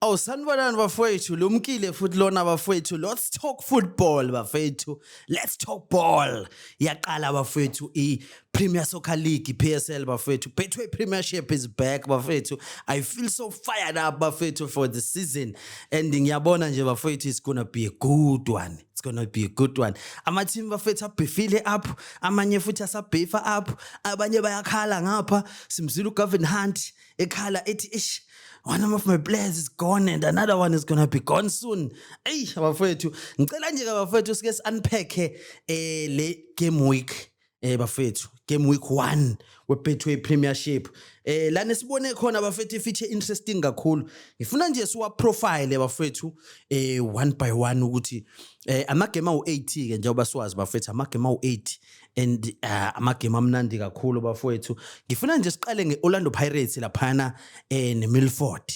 Oh sanibonani bafowethu lumkile futhi lona bafowethu let's talk football bafowethu let's talk ball yaqala bafowethu i Premier Soccer League PSL bafowethu Betway Premiership is back bafowethu I feel so fired up bafowethu for the season and ngiyabona nje bafowethu it's going to be a good one it's going to be a good one ama team bafowethu abhifile up amanye futhi asabhifa up abanye bayakhala ngapha simzila uGavin Hunt ekhala ethi ish one of my players is gone and another one is gonna be gone soon eyi abafowethu ngicela nje-ke abafowethu sike si-unpacke um eh, le game week um bafowethu game week one webetway premiership um lana sibone khona bafethu ifithe interesting kakhulu ngifuna nje siwaprofile bafethu um eh, one by one ukuthi um amagame awu-eight-ke njengoba siwazi bafethu amagame awu-eight and uh, amagame amnandi kakhulu bafowethu ngifuna nje siqale nge-orlando pirates laphana eh, nemilford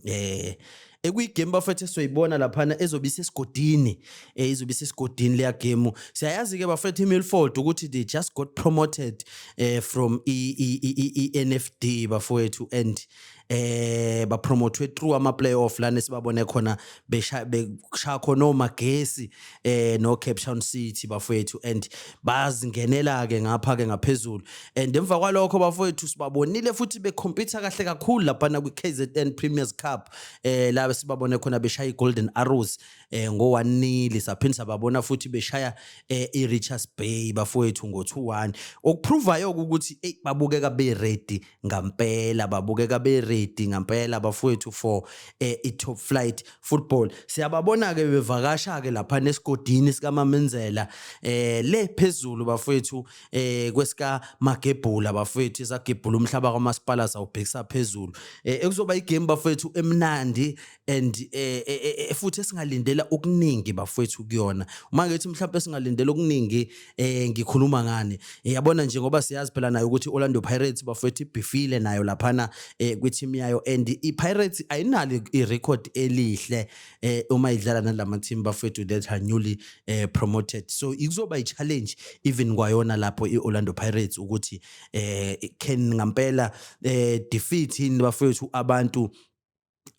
eh ekuyigame bafethu esizoyibona laphana ezobe isesigodini eh izobe isesigodini leya game siyayazi ke bafethu iMilford ukuthi they just got promoted eh from i NFD bafethu and eh ba promote through ama playoff lana sibabone khona besha bekusha khona omagesi eh no Cape Town City bafowethu and bazingenela ke ngapha ke ngaphezulu and emva kwalokho bafowethu sibabonile futhi be compete kahle kakhulu lapha na kwi KZN Premier's Cup eh la sibabone khona beshaya i Golden Arrows eh ngo 1 nil saphinde sababona futhi beshaya eh i Richards Bay bafowethu ngo 2-1 okuprovayo ukuthi hey babukeka be ready ngampela babukeka be ready ngampela bafowethu for eh, i top flight football siyababona ke bevakasha ke lapha nesigodini sika Mamenzela eh le phezulu bafowethu eh kwesika Magebhula bafowethu isagebhula umhlaba kwamasipala sawubhekisa phezulu eh ekuzoba igame bafowethu emnandi and eh, eh, eh, eh, futhi esingalindela okuningi bafowethu kuyona uma ngithi mhlawumbe singalindela okuningi eh ngikhuluma ngani Eh, yabona nje ngoba siyazi phela nayo ukuthi Orlando Pirates bafowethu ibhifile nayo laphana eh kwi-team yayo and i-Pirates ayinalo i-record elihle eh uma idlala nalama team bafowethu that are newly eh, promoted so ikuzoba i-challenge even kwayona lapho i-Orlando Pirates ukuthi eh can ngampela eh defeat yini bafowethu abantu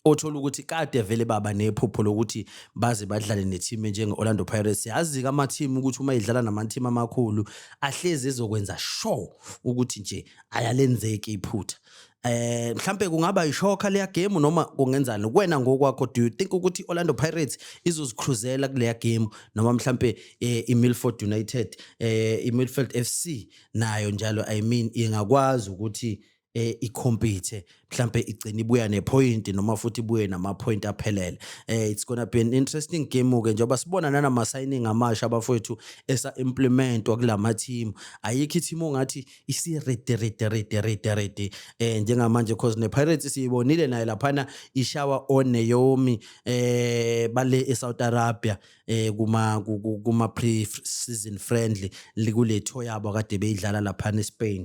othola ukuthi kade vele baba nephupho lokuthi baze badlale ne-team enjenge-orlando pirates yazi-ke ama-team ukuthi uma idlala nama-team amakhulu ahlezi ezokwenza sure ukuthi nje ayalenzeki iphutha eh mhlambe kungaba ishoka leya game noma kungenzani kuwena ngokwakho do you think ukuthi Orlando Pirates izozicruzela kuleya game noma mhlambe eh, iMilford United eh iMilford FC nayo njalo i mean ingakwazi ukuthi eh ikhompithe mhlambe igcina ibuya nepoint noma futhi ibuye namapoint aphelele eh it's gonna be an interesting game ke njengoba sibona nanama signing amasha abafowethu esa implement wakulama team ayikho team ongathi isi ready ready ready ready ready eh njengamanje because ne Pirates siyibonile naye laphana ishawa on Naomi eh bale eSouth Arabia eh kuma kuma pre season friendly likuletho yabo kade beyidlala laphana eSpain